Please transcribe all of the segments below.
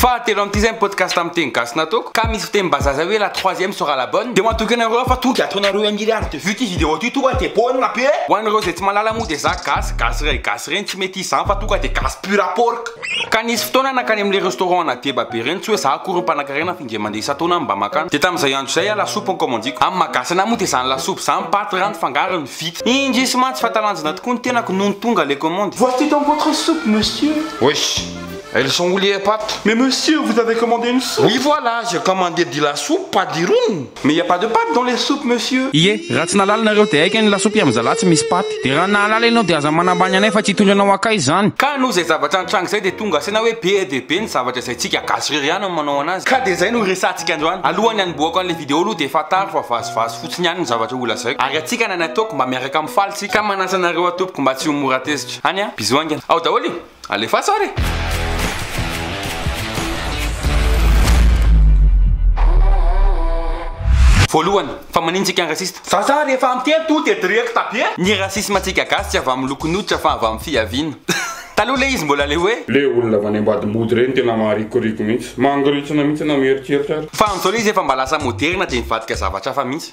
Fahatelo amin'ity izay ny podcast amin'ny teny gasy nataoko ka misy fitenim-bazaha izay hoe la troisième sera la bonne dia matoky anareo aho fa tonga dia ataonareo un milliard de vues ity vidéo ity tonga dia bonne be ho an'ireo izay tsy mahalala moa dia za gasy gasy iray gasy ireny tsy mety hisy izany fa tonga dia gasy pur à porc ka nisy fotoana nankany amin'ilay restaurant ana deba be ireny tsy hoe za akory no mpanankarena dia mandeha isan-taona aho mba maka an. Dia tamin'izay andro izay aho lasopy no kaomandiko. Amin'ny maha-gasy anahy moa dia izany lasopy izany, paty, rano, fangarony, vita. Indrisy mantsy fa talanjona tokoa ny tenako nony tonga ilay kaomandy. Voici donc votre soupe, monsieur. Oui, elles sont où les pates? Mais monsieur, vous avez commandé une soupe! Oui, voilà, j'ai commandé de la soupe, pas du rhum! Mais il y a pas de pâte dans les soupes monsieur. Ie, raha tsy nahalala nareo dia aiken ny lasopy am zalahy tsy misy paty. Dia raha nahalala ianao dia aza manambany anay fa tsy hitondra anao akaiza zany. Ka noho izay zavatra nitranga izay dia tonga saina hoe be dia be ny zavatra izay tsika gasy irery ihany no manao anazy. Ka dia izay no hiresahantsika androany. Alohan'ny hanombohako an'ilay video aloha dia fantaro fa vazivazy fotsiny ihany ny zavatra ho lazaiko. Ary antsika na ny ataoko mba miaraka mifaly tsika. Ka manasa anareo aho tompoko mba tsy ho mora tezitra. Any a! Bisous haingana. Ao daholo e! Alefaso ary e! Voalohany, fa maninona tsika raciste? Vazaha rehefa miteny tonga dia directa be! Ny racisme antsika gasy tsy avy amin'ny lokon'ny hoditra fa avy amin'ny fihaviana. Taloha ilay izy mbola le hoe. Le olona avy any ambady mody reny tena maharikoriko mihitsy. Mangorintsina mihitsy enao mieritreritra ary. Fa amin'izao ilay izy efa mba lasa moderna dia mivadika zavatra hafa mihitsy.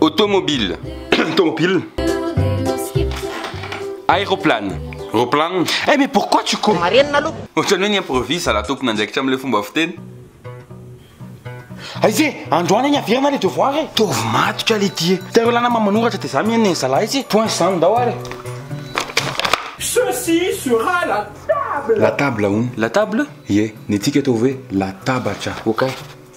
Automobile. Automobile. Aéroplane. Aéroplane. Eh mais pourquoi tu cours? Marenina aloha. Ohatrany hoe ni-improvise zala tompon'andraikitra amin'ilay fomba fiteny. Aiza e? Androany ny averina le devoir e. Taovy matotra le ty e. Teo lana ma manoratra de za mihaino zala aiza e. Point zany ndao ary. Ceci sera la table. La table hono. La table? Ie, ny antsika ataovy hoe latabatra. Okay.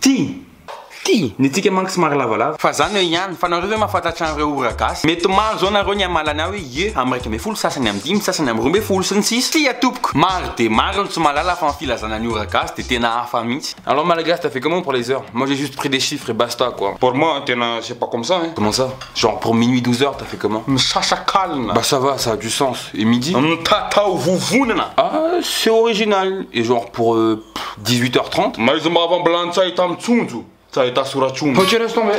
Tia! Tia! Ny antsika manko somary lavalava. Fa zany eo ihany. Fa nareo ve mahafantatra an'ireo ora gasy? Mety maro zao nareo ny hamala ny ahy hoe ie am iraika ambin'ny folo, sasany am dimy, sasany am roa ambin'ny folo, sy ny sisa. Tsia tompoko! Maro dia maro ny tsy mahalala fa ny filazana ny ora gasy dia tena hafa mihitsy. Alors malagasy t'as fait comment pour les heures? Moi j'ai juste pris des chiffres et basta quoi. Pour moi tena c'est pas comme ça hein. Comment ça? Genre pour minuit douze heures t'as fait comment? Misasakalina. Bah ça va, ça a du sens. Et midi? Mitatao vovonana. Ah c'est original. Et genre pour euh. dix huit heures trente. Maizy mahavambilan tsy ahita mitsonjo tsy ahita soratr'omby.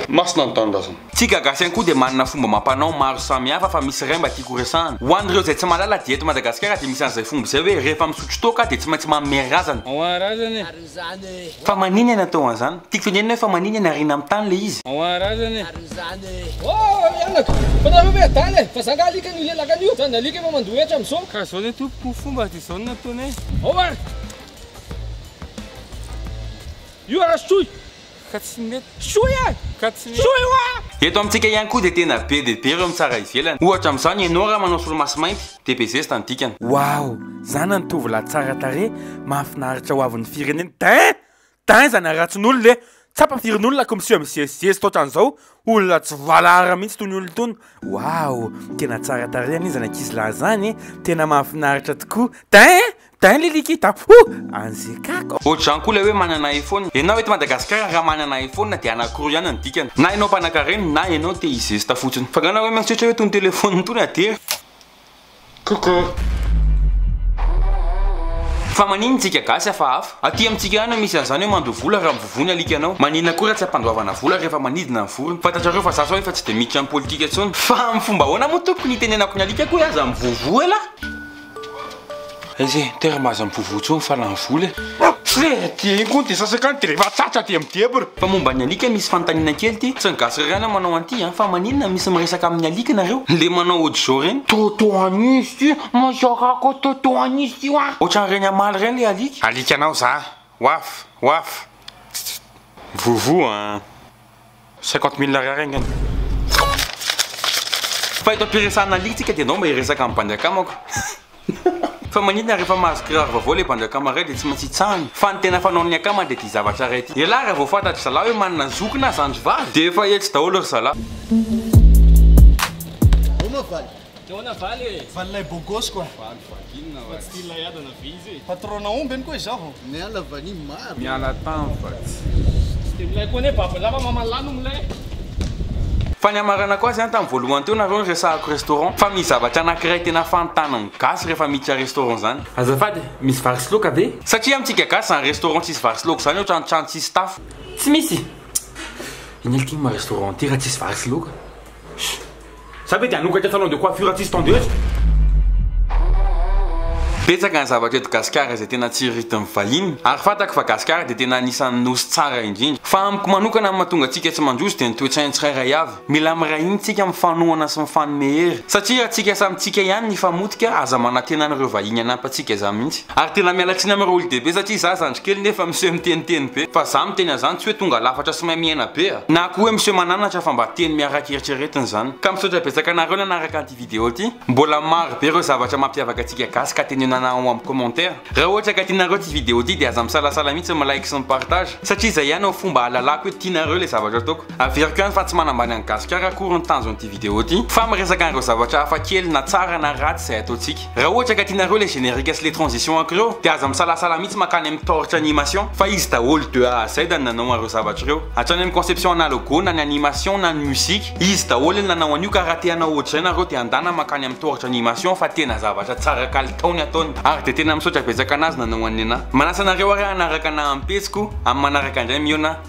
Masina ny tanindrazana. Tsika gasy ihany koa dia manana fomba amam-panao maro samihafa fa misy iray mba tiako horesahana. Ho an'ireo izay tsy mahalala dia eto Madagasikara dia misy an'izay fomba izay hoe rehefa misotro toaka dia tsy maintsy manome razana. Fa manina ny atao an'izany? Tiako tenenina hoe fa manina ny ariana amin'ny tany ilay izy? Zao no nataony hoe. Ao ary! Io ary soy! Ka tsy mety. Soy e! Ka tsy mety. Soy hoa! Eto amintsika ihany koa dia tena be dia be ireo mitsara ivelany. Ohatra amin'izao ny Enao raha manao solomaso mainty dia be zesta ny dikany. Waouh! Zana ny tovolahy tsara tarehy mahafinaritra ho avin'ny firenena. Dain! Dainza ny haratsinolona e! Tsapa firin'olona ko miseho mizezizezy totran'izao, olona tsy valahara mihitsy tony olona tony. Waouh! Tena tsara tarehy anie zany ankizy lahy zany e! Tena mahafinaritra tokoa. Dain e! Dain liliki da huh! Anzekako. Ohatrizany koa ilay hoe manana iPhone. Ianao eto Madagasikara raha manana iPhone dia anankiroa ihany ny dikany, na ianao mpanakarena na ianao te hizesta fotsiny. Fa angamba hoe mieritreritra hoe itony telephone itony aty e! Coucou. Fa maninn tsika gasy hafahafa. Aty amintsika any misy anzany hoe mandoa vola raha mivovoa ny alikanao. Maninn akory raha tsy ampandoavana vola rehefa manidina ny vorona. Fantatrareo fa za zao efa tsy dia miditra am politika tsony. Fa am fomba ahoana moa tompoko ny itenenako ny alikako hoe aza mivovoa elah? Aiza e, tera maza mivovo tsony fa lany vola e. Tsy le aty eny koa ny dia sasaka any dia rehefa tratra dia midebra. Fa momba ny alika misy fanontaniana kely ty, tsy ny gasy irery any manao an'ity an, fa maninona misy miresaka amin'ny alika nareo? Le manao hodizo reny? Toto an'izy ty, mazakako toto an'izy ty wa. Ohatran'ireny hamaly ireny le alika. Alikanao za. Waf! Waf! Tststt. Vovo an. Cinquante mille ariary angamba. Fa eto am-piresahana lia tsika dia enao mba hiresaka amin'ny bandy akamako. Fa maninona rehefa mahazo kiraro vaovao ilay bandy akama iray dia tsy maintsy hitsahana? Fa ny tena fanaon'ny akama dia ity zavatra iray ity. Elah raha vao fantatry zalah hoe manana zoky na zandry vavy dia efa etsy daholo ry zalah. Nahoana valy e? Valy lay bogos quoi. Valy vagina hoazy. Fa tsy tian'ilay ada na vy izy e. Patron-na omby any koa izaho. Miala vanille maro. Miala tam fa tsy. Tsy dia milay koa anie babo lava maman lahy no milay. Fa ny hamaranako azy an tam voalohany teo nareo niresahako restaurant fa misy zavatra anakiray tena fantaniny gasy rehefa miditra restaurant zany. Azafady e, misy vary sy loka ve? Satria amintsika gasy zany restaurant tsisy vary sy loka zany ohatran trano tsisy tafo. Tsy misy! Inona ity ma restaurant ity raha tsisy vary sy loka? Za ve de hanokatra salon de coiffure tsisy tondeuse? Betsaka ny zavatra eto Gasikara izay tena tsiriridin'ny vahiny ary fantako fa Gasikara dia tena anisan'ny Nosy tsara indrindra. Fa amiko manokana ny mahatonga antsika tsy mandroso dia ny toe-tsain'ny tsirairay avy. Mila miray hina isika mifanohana sy mifanome hery satria raha tsika samy tsika ihany ny hifamotika aza manantena an'ireo vahiny hanampy antsika izany mihitsy. Ary tena miala tsiny aminareo olodehibe satria za zandry kely nefa miseho miteniteny be fa za miteny anzany tsy hoe tonga lafatra sy mahay miaina be a! Na koa hoe miseho mananatra fa mba teny miaraka eritreretina zany. Ka misaotra betsaka anareo nanaraka an'ity video ty. Mbola maro be ireo zavatra mampiavaka antsika gasy ka tenenana ao am commentaire. Raha ohatra ka tianareo ty video ty dia aza misalasala mihitsy mi like sy mi partage satria zay ihany ao fomba ahalalako hoe tianareo le zavatra ataoko. Averiko ihany fa tsy manambany an'i Gasikara akory ny tanjon'ity vidéo ity, fa miresaka an'ireo zavatra hafa kely na tsara na ratsy izay ataontsika. Raha ohatra ka tianareo ilay générique sy ilay transition aky ireo, dia aza misalasala mihitsy mankany amin'ny taoritra animation, fa izy daholo de A à Z ny nanao an'ireo zavatra ireo. Hatrany amin'ny conception na logo na ny animation na ny musique, izy daholo ny nanao an'io ka raha te hanao ohatr'izay nareo dia andana mankany amin'ny taoritra animation fa tena zavatra tsara kalitao ny ataony. Ary dia tena misaotra betsaka an'azy nanao an'i Nena. Manasa anareo ary hanaraka anah amin'ny pejy ko, amin'ny manaraka indray mihaona.